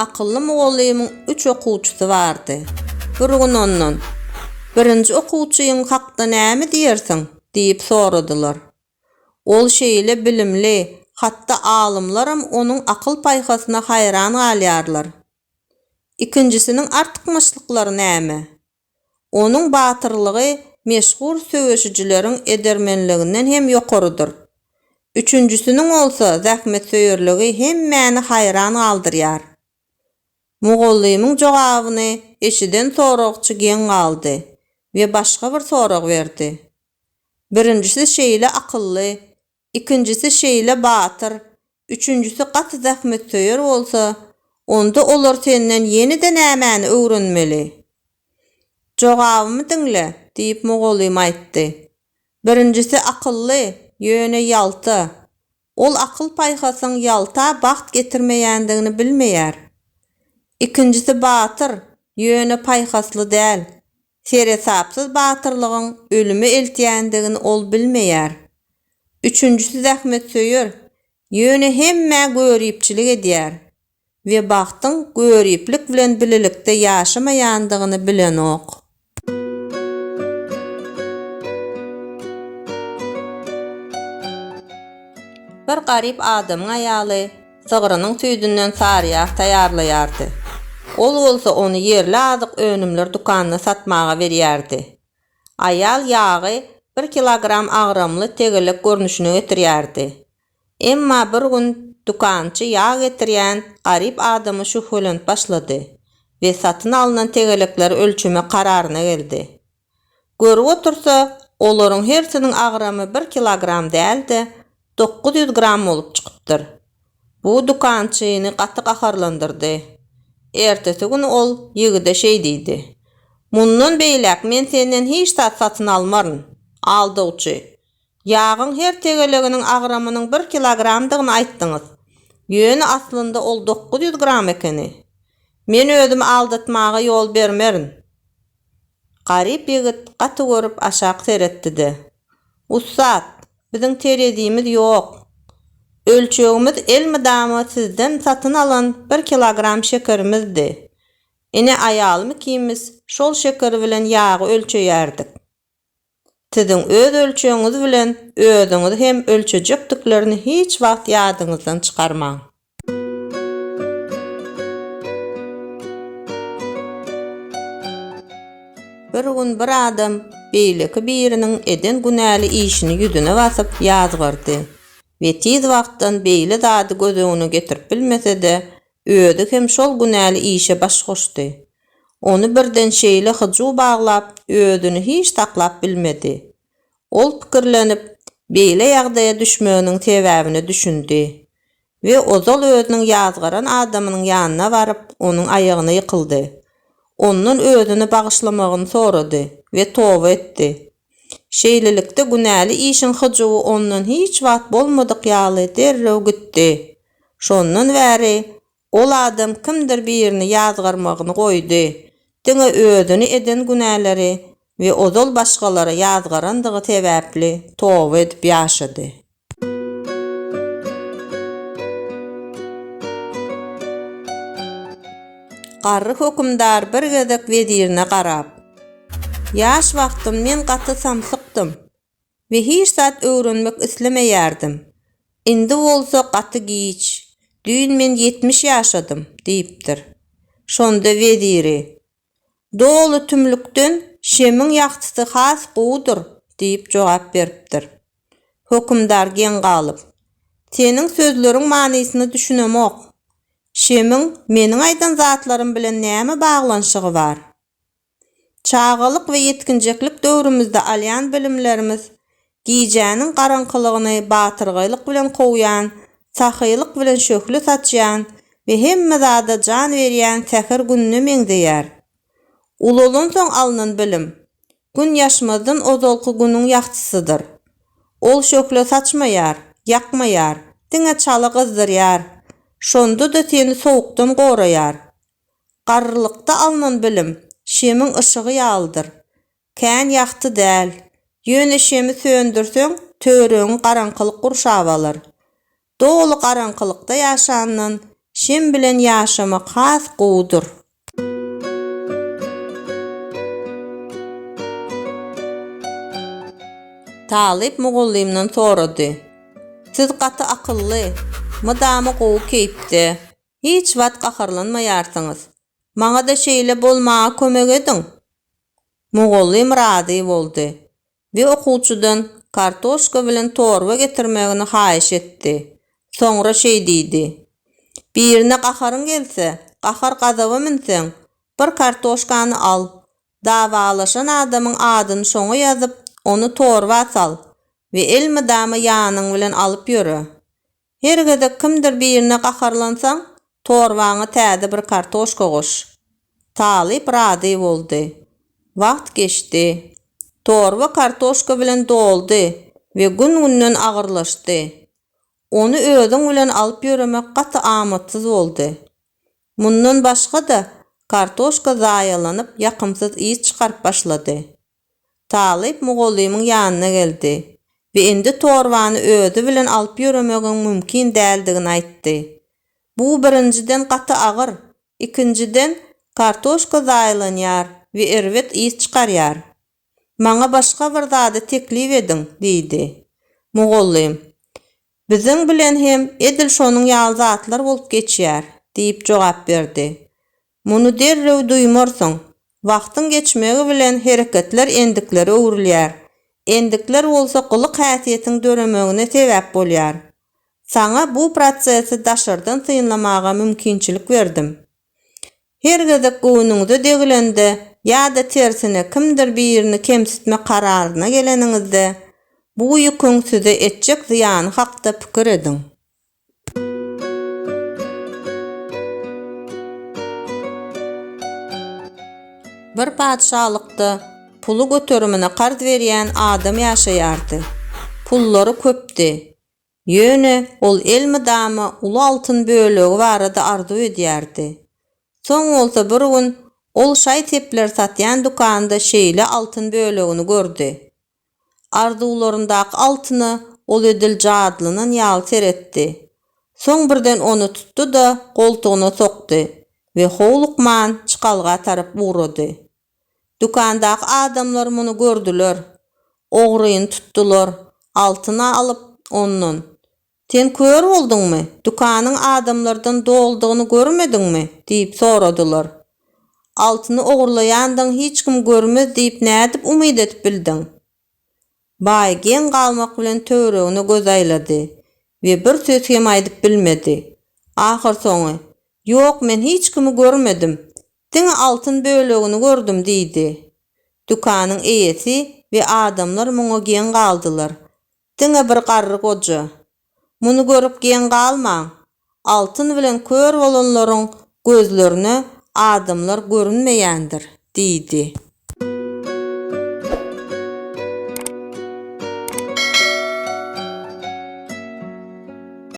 Akylly mugallymyň üç okuwçysy bardy. Bir gün ondan, Birinji okuwçyň hakda näme diýersiň? diýip soradylar. Ol şeýle bilimli, hatda alymlaram onuň akyl-paýhasyna haýran galýarlar. Ikinjisiniň artykmaçlyklary näme? Onuň batyrlygy meşhur söweşijileriň edermenliginden hem ýokarydyr. Üçünjisiniň bolsa zähmetsöýerligi hemmäni haýran galdyrýar. Mugallymyň jogabyny eşiden soragçy geň galdy we başga bir sorag berdi. Birinjisi şeýle akylly, ikinjisi şeýle batyr, üçünjisi gaty zähmetsöýer bolsa, onda olar senden ýene-de nämäni öwrenmeli? Jogabymy diňle, diýip mugallym aýtdy. Birinjisi akylly, ýöne ýalta. Ol akyl-paýhasyň ýalta bagt getirmeýändigini bilmeýär. Ikinjisi batyr, ýöne paýhasly däl. Seresapsyz batyrlygyň ölüme eltýändigini ol bilmeýär. Üçünjisi zähmetsöýer, ýöne hemmä göripçilik edýär we bagtyň göriplik bilen bilelikde ýaşamaýandygyny bilenok. Bir garyp adamyň aýaly. Sygrynyň süýdünden saryýag taýýarlaýardy. Ol bolsa ony ýerli azyk önümler dükanyna satmaga berýärdi. Aýal ýagy bir kilogram agramly tegelek görnüşine getirýärdi. Emma bir gün dükançy ýag getirýän garyp adamy şübhelenip başlady we satyn alnan tegelekleri ölçemek kararyna geldi. Görüp otursa, olaryň hersiniň agramy bir kilogram däl-de, dokuz ýüz gram bolup çykypdyr. Bu dükançyny gaty gaharlandyrdy. Ertesi gün ol ýigide şeý diýdi, Mundan beýläk men senden hiç zat satyn almaryn, aldawçy! Ýagyň her tegeleginiň agramynyň bir kilogramdygyny aýtdyňyz, ýöne aslynda ol dokuz ýüz gram ekeni. Men özümi aldatmaga ýol bermerin. Garyp ýigit gaty görüp aşak seretdi-de, Ussat, biziň terezimiz ýok. Ölçegimiz elmydama sizden satyn alan bir kilogram şekerimizdi. Ine aýalym ikimiz şol şeker bilen ýagy ölçeýärdik. Siziň öz ölçegiňiz bilen özüňizi hem ölçejekdiklerini hiç wagt ýadyňyzdan çykarmaň. Bir gün bir adam beýleki biriniň eden günäli işini ýüzüne basyp ýazgardy we tiz wagtdan beýle zady göz öňüne getirip bilmese-de, özi hem şol günäli işe baş goşdy. Ony birden şeýle hyjuw baglap, özüni hiç saklap bilmedi. Ol pikirlenip, beýle ýagdaýa düşmeginiň sebäbine düşündi we ozal özüniň ýazgaran adamynyň ýanyna baryp, onuň aýagyna ýykyldy. Ondan özüni bagyşlamagyny sorady we toba etdi. Şeýlelikde, günäli işiň hyjuwy ondan hiç wagt bolmadyk ýaly derrew gitdi. Şondan bäri Ol adam kimdir birini ýazgarmagyny goýdy, diňe özüni eden günäleri we ozal başgalara ýazgarandygy sebäpli toba edip ýaşady. Garry hökümdar bir gezek wezirine garap, Ýaş wagtym men gaty samsykdym, we hiç zat öwrenmek islemeýärdim. Indi bolsa gaty giç, düýn men ýetmiş ýaşadym, diýipdir. Şonda weziri, Doly tümlükden şemiň ýagtysy has gowudyr, diýip jogap beripdir. Hökümdar geň galyp, Seniň sözleriň manysyna düşünemok. Şemiň meniň aýdan zatlarym bilen näme baglanyşygy bar? Çagalyk we ýetginjeklik döwrümizde alýan bilimlerimiz gijäniň garaňkylygyny batyrgaýlyk bilen kowýan, sahylyk bilen şöhle saçýan we hemme zada jan berýän säher gününe meňzeýär. Ulalansoň alnan bilim, Gün ýaşmazdan ozalky günüň ýagtysydyr. Ol şöhle saçmaýar, ýakmaýar, diňe çala gyzdyrýar, şonda-da seni sowukdan goraýar. Garrylykda alnan bilim şemiň yşygy ýalydyr. Kän ýagty däl. Ýöne şemi söndürseň, töweregiňi garaňkylyk gurşap alar. Doly garaňkylykda ýaşandan, şem bilen ýaşamak has gowudyr. Talyp mugallymdan sorady. Siz gaty akylly, mydama gowy keýpde. Hiç wagt gaharlanmaýarsyňyz. Maňa-da şeýle bolmaga kömek ediň! Mugallym razy boldy we okuwçydan kartoşka bilen torba getirmegini haýyş etdi. Soňra şeý diýdi, Birine gaharyň gelse, gahar-gazaba münseň, bir kartoşkany al, dawalaşan adamyň adyny şoňa ýazyp, ony torba sal we elmydama ýanyň bilen alyp ýöre. Her gezek kimdir birine gaharlansaň, torbaňa täze bir kartoşka goş. Talyp razy boldy. Wagt geçdi. Torba kartoşka bilen doldy we gün-günden agyrlaşdy. Ony özüň bilen alyp ýöremek gaty amatsyz boldy. Mundan başga-da, kartoşka zaýalanyp, ýakymsyz ys çykaryp başlady. Talyp mugallymyň ýanyna geldi we indi torbany özi bilen alyp ýöremegiň mümkin däldigini aýtdy. Bu, birinjiden, gaty agyr, ikinjiden, kartoşka zaýalanýar we erbet ys çykarýar. Maňa başga bir zady teklip ediň, diýdi. Mugallym, Biziň bilen hem edil şonuň ýaly zatlar bolup geçýär, diýip jogap berdi. Muny derrew duýmarsyň. Wagtyň geçmegi bilen hereketler endiklere öwrülýär. Endikler bolsa gylyk-häsiýetiň döremegine sebäp bolýar. Saňa bu prosesi daşardan synlamaga mümkinçilik berdim. Her gezek göwnüňize degilende ýa-da tersine kimdir birini kemsitme kararyna geleniňizde, bu ýüküň size etjek zyýany hakda pikir ediň. Bir patyşalykda puly göterimine karz berýän adam ýaşaýardy. Pullary köpdi. Ýöne ol elmydama uly altyn bölegi barada arzuw edýärdi. Soň bolsa bir gün ol şaý-sepler satýan dükanda şeýle altyn bölegini gördi. Arzuwlaryndaky altyna ol edil jadylanan ýaly seretdi. Soň birden ony tutdy-da, goltugyna sokdy we howlukman çykalga tarap ugrady. Dükandaky adamlar muny gördüler. Ogryny tutdular, altyny alyp, ondan, Sen kör bolduňmy? Dükanyň adamlardan doldugyny görmediňmi? diýip soradylar. Altyny ogurlaýandygyňy hiç kim görmez diýip nädip umyt edip bildiň? Baý geň galmak bilen töweregine göz aýlady we bir söz hem aýdyp bilmedi. Ahyrsoňy, Ýok, men hiç kimi görmedim. Diňe altyn bölegini gördüm diýdi. Dükanyň eýesi we adamlar muňa geň galdylar. Diňe bir garry goja, Muny görüp geň galmaň! Altyn bilen kör bolanlaryň gözlerine adamlar görünmeýändir, diýdi.